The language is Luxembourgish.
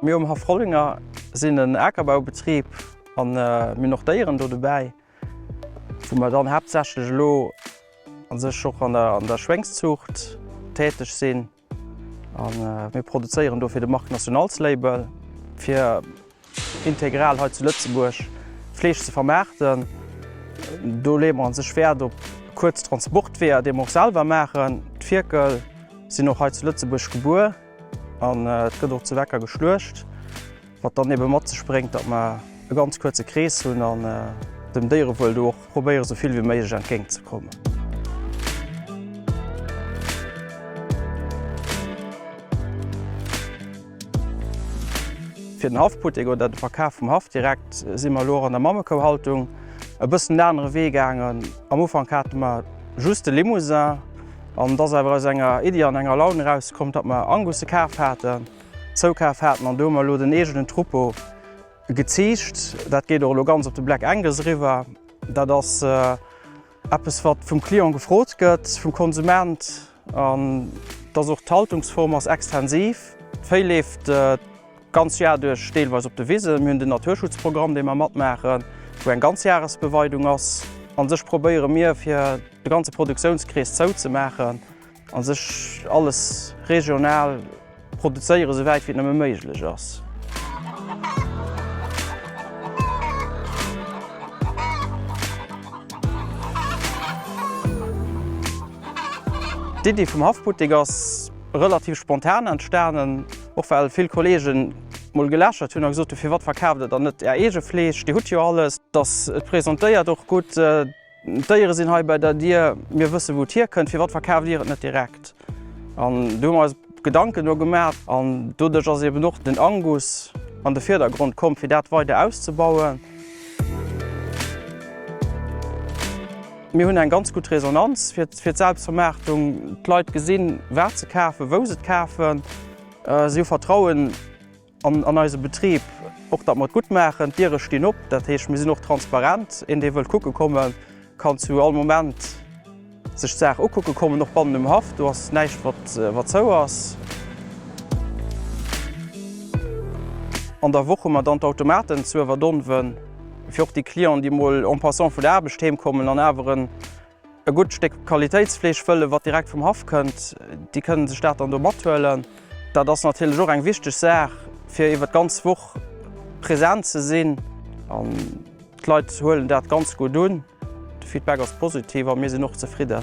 Mir um Haff Rollinger sinn en Akerbaubetrib an mir hunn och Déieren do dobäi, wou mer dann haaptsächlech elo a sech och an der Schwéngszuucht täteg sinn. An mir produzéieren do fir de Marque National's Label, fir integral hei zu Lëtzebuerg Fleesch ze vermaarten. Do leeë mer an sech Wäert op kuerz Transportweeër, déi mer och selwer maachen. D'Fierkel sinn och hei zu Lëtzebuerg gebuer an et gëtt och zu Wecker geschluecht. Wat dann eben mat sech bréngt, datt mer e ganz kuerze Krees hunn an dem Déierewuel do och probéieren, esou vill wéi méiglech entgéint ze kommen. Fir den Haffputtek oder de Verkaf vum Haff direkt si mer elo och an der Mammekouhaltung e bëssen en anere Wee gaangen. Am Ufank hate mer just de Limousin an et ass awer aus enger Iddi an enger Laun erausgekomm, datt mer Angusse kaf haten. Zoukaf haten an do hu mer elo den eegenen Troupeau geziicht. Dat geet och elo ganz op de Black Angus eriwwer. Dat ass eppes wat vum Client gefrot gëtt, vum Konsument. An et ass och, d'Haltungsform ass extensiv. D'Véi leeft d'ganz Jar duerch deelweis op de Wisen. Mir hunn den Naturschutzprogramm dee mer matmaachen, wou eng Ganzjahresbeweidung ass. An sech probéiere mir fir de ganze Produktiounskrees zouzemaachen. A sech alles regional produzéieren, esou wäit wéi et nëmme méiglech ass. D'Iddi vum Haffbuttek ass relativ spontan entstanen, och well vill Kollegen mol gelächert hunn a gesot hunn, firwat verkaaft der dann net är eege Fleesch, dir hutt jo alles, dass et presentéiert och gutt. D'Déiere sinn hei bei der Dier, mir wësse wou et hierkënnt, firwat verkaaft Dir et net direkt? An do hu mer eis Gedanken do gemaach an doduerch ass eben och den Angus an de Vierdergrond komm, fir dat weider auszebauen. Mir hunn eng ganz gutt Resonanz fir d'Selbstvermaartung. D'Leit gesinn, wat se kafen, wou se et kafen, si hu Vertrauen. An eise Betrib och, datt mer et gutt maachen. D'Diere stinn op, dat heescht, mir sinn och transparent. Een, dee wëllt kucke kommen, kann zu all Moment sech d'Saach ukucke kommen. Och bannen um Haff, do ass näischt, wat zou ass. An der Woch hu mer dann d'Automaten zu Ëverdonven, fir och déi Clienten, déi emol en passant vun der Aarbecht heemkommen an awer en E gutt Stéck Qualitéitsfleesch wëllen, wat direkt vum Haff kënnt. Déi kënnen sech dat dann do mathuelen. Dat ass natierlech och eng wichteg Saach, fir iwwer d'ganz Woch present ze sinn. An d'Leit huelen dat ganz gutt un. De Feedback ass positiv a mir sinn och zefridden.